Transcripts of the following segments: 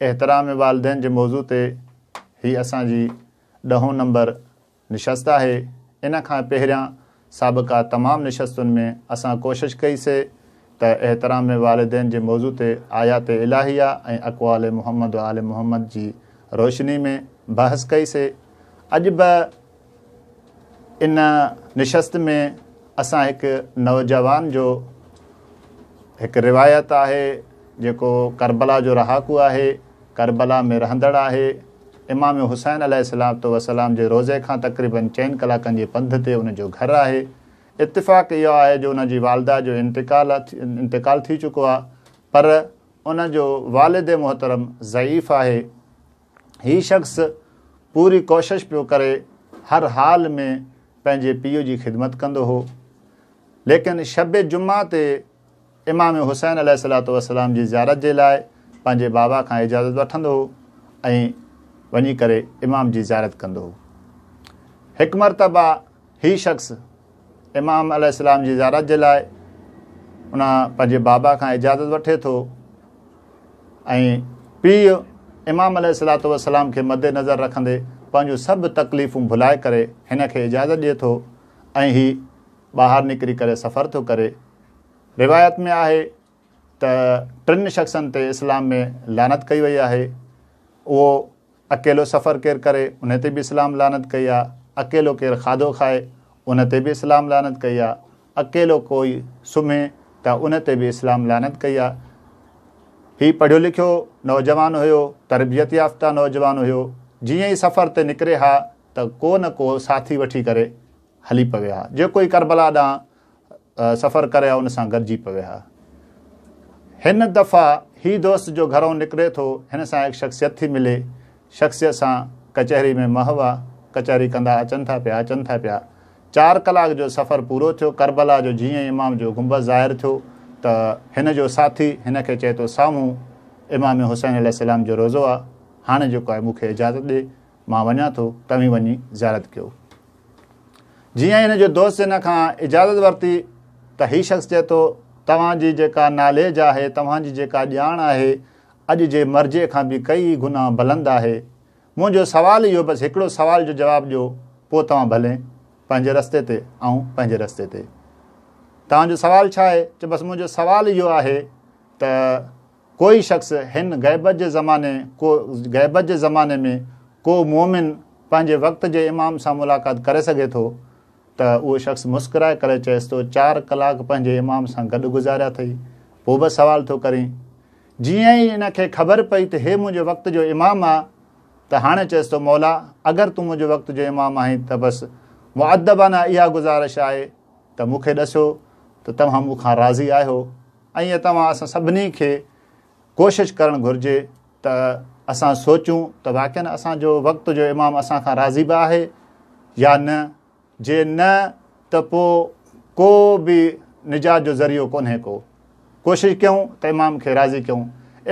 احترام والدين جي موضوع تي هي اسان جي ڏهون نمبر نشست آهي. ان کان پهريان سابقا تمام نشستن ۾ اسان ڪوشش ڪئي سي ته احترام والدين جي موضوع تي آيات الٰهيه ۽ اقوال محمد و آل محمد جي روشني ۾ بحث ڪئي سي. اڄ به ان نشست ۾ اسان هڪ نوجوان جو هڪ روايت آهي جيڪو ڪربلا جو رهاڪو آهي ڪربلا ۾ رهندڙ آهي امام حسين عليه السلام وسلام جي روزي کان تقريبن چئن ڪلاڪن جي پنڌ تي ان جو گهر آهي اتفاق اهو آهي جو ان جي والده جو انتقال انتقال ٿي چڪو آهي پر ان جو والد محترم ضعيف آهي هي شخص پوري ڪوشش پيو ڪري هر حال ۾ پنهنجي پيء جي خدمت ڪندو هو ليڪن شب جمعه تي امام حسين عليه الصلاة والسلام جي زيارت جي لاء پنهنجي بابا کان اجازت وٺندو هو ۽ وڃي ڪري امام جي زيارت ڪندو هو هڪ مرتبه هي شخص امام عليه السلام جي زيارت جي لاء ان پنهنجي بابا کان اجازت وٺي ٿو ۽ پيء امام عليه الصلاة والسلام کي مد نظر رکندي پنهنجون سڀ تڪليفون ڀلائي ڪري هن کي اجازت ڏئي ٿو ۽ هي ٻاهر نڪري ڪري سفر ٿو ڪري روايت ۾ آهي ته ٽن شخصن تي اسلام ۾ لعنت ڪئي وئي آهي اهو اڪيلو سفر ڪير ڪري ان تي به اسلام لعنت ڪئي آ، اڪيلو ڪير کاڌو کائي ان تي به اسلام لعنت ڪئي آ، اڪيلو ڪوئي سمهي ته ان تي به اسلام لعنت ڪئي آ. هي پڙهيو لکيو نوجوان هيو، تربيت يافته نوجوان هيو، جيئن ئي سفر تي نڪري ها ته ڪو نه ڪو ساٿي وٺي ڪري هلي پوي ها، جيڪو ئي ڪربلا ڏانهن سفر ڪري ها ان سان گڏجي پوي ها. هن دفعا هي دوست جو گهرئون نڪري ٿو هن سان هڪ شخصيت ٿي ملي شخصيت سان ڪچهري ۾ محو آ ڪچهري ڪندا اچن ٿا پيا اچن ٿا پيا چار ڪلاڪ جو سفر پورو ٿيو ڪربلا جو جيئن ئي امام جو گنبذ ظاهر ٿيو ته هن جو ساٿي هن کي چئي ٿو سامهون امام حسين عليه السلام جو روزو آ هاڻي جيڪو آهي مون کي اجازت ڏي مان وڃان ٿو توهين وڃي زيارت ڪيو. جيئن ئي هن جو دوست هن کان اجازت ورتي ته هي شخص چئي ٿو توهان جي جيڪا ناليج آهي، توهان جي جيڪا ڄاڻ آهي اڄ جي مرجي کان به ڪئي گنا بلند آهي. منهنجو سوال اهو بس هڪڙو سوال جو جواب ڏيو پوء توهان ڀلين پنهنجي رستي تي آئون پنهنجي رستي تي. توهان جو سوال ڇا آهي؟ چئي بس منهنجو سوال اهو آهي ته. ڪوئي شخص هن غيبت جي زماني ڪو غيبت جي زماني ۾ ڪو مؤمن پنهنجي وقت جي امام سان ملاقات ڪري سگهي ٿو ته اهو شخص مسڪرائي ڪري چئيس ٿو چار ڪلاڪ پنهنجي امام سان گڏ گذاريا ٿئي پوء به سوال ٿو ڪرين جيئن ئي ان کي خبر پئي ته هي منهنجي وقت جو امام آ ته هاڻي چئيس ٿو مولا اگر تون منهنجي وقت جو امام آهين ته بس مؤدبانه اها گذارش آهي ته مون کي ڏسو ته توهان مون کان راضي آهيو ائين توهان اسان سڀني کي ڪوشش ڪرڻ گهرجي ته اسان سوچون ته واقعا اسان جو وقت جو امام اسان کان راضي به آهي يا نه جي نه ته پو ڪو به نجات جو ذريعو ڪونهي ڪو ڪوشش ڪيون ته امام کي راضي ڪيون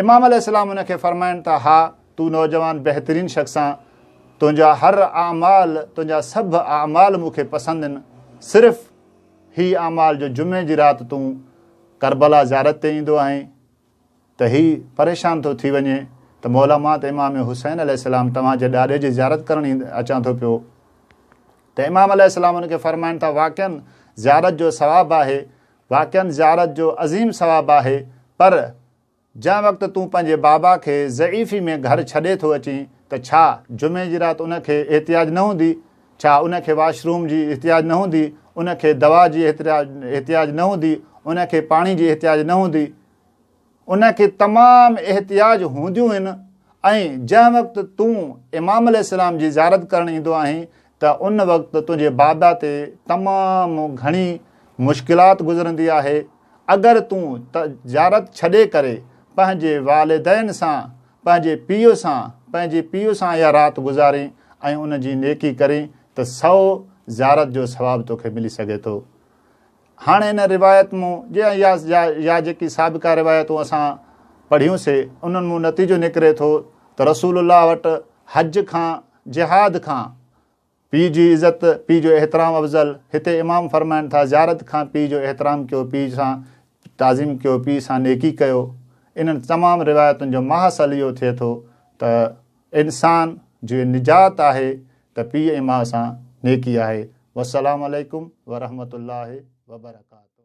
امام عليه السلام ان کي فرمائن ٿا ها تو نوجوان بهترين شخص آن تنهنجا هر اعمال تنهنجا سڀ اعمال مون کي پسند آهن صرف هي اعمال جو جمعي جي رات تون ڪربلا زيارت تي ايندو آهين ته هي پريشان ٿو ٿي وڃي ته مولا مان ته امام حسين عليه السلام توهان جي ڏاڏي جي زيارت ڪرڻ اچان ٿو پيو ته امام عليه السلام ان کي فرمائن ٿا واقعا زيارت جو ثواب آهي واقعا زيارت جو عظيم ثواب آهي پر جنهن وقت تون پنهنجي بابا کي ضعيفي ۾ گهر ڇڏي ٿو اچين ته ڇا جمعي جي رات ان کي احتياج نه هوندي؟ ڇا ان کي واش روم جي احتياج نه هوندي؟ ان کي دوا جي احتياج نه هوندي؟ ان کي پاڻي جي احتياج نه هوندي؟ ان کي تمام احتياج هونديون هن ۽ جنهن وقت تون امام عليه السلام جي زيارت ڪرڻ ايندو آهين ته ان وقت تنهنجي بادا تي تمام گهڻي مشڪلات گذرندي آهي، اگر تون تجارت ڇڏي ڪري پنهنجي والدين سان، پنهنجي پيء سان، پنهنجي پيء سان اها رات گذارين ۽ ان جي نيڪي ڪرين ته سؤ زيارت جو ثواب توکي ملي سگهي ٿو. هاڻ ان روايت مون جي ۽ يا جيڪي سابقه روايتون اسان پڙهيون سي، انهن مون نتيجو نڪري ٿو ته رسول الله وٽ حج کان جهاد کان پيء جي عزت، پيء جو احترام افضل، هتي امام فرمائن ٿا، زيارت کان پيء جو احترام ڪيو، پيء سان تعظيم ڪيو، پيء سان نيڪي ڪيو. انهن تمام روايتن جو ماحصل اهو ٿئي ٿو ته انسان جي نجات آهي ته پيء ۽ ماء سان نيڪي آهي. والسلام عليڪم ورحمة الله وبرڪاته.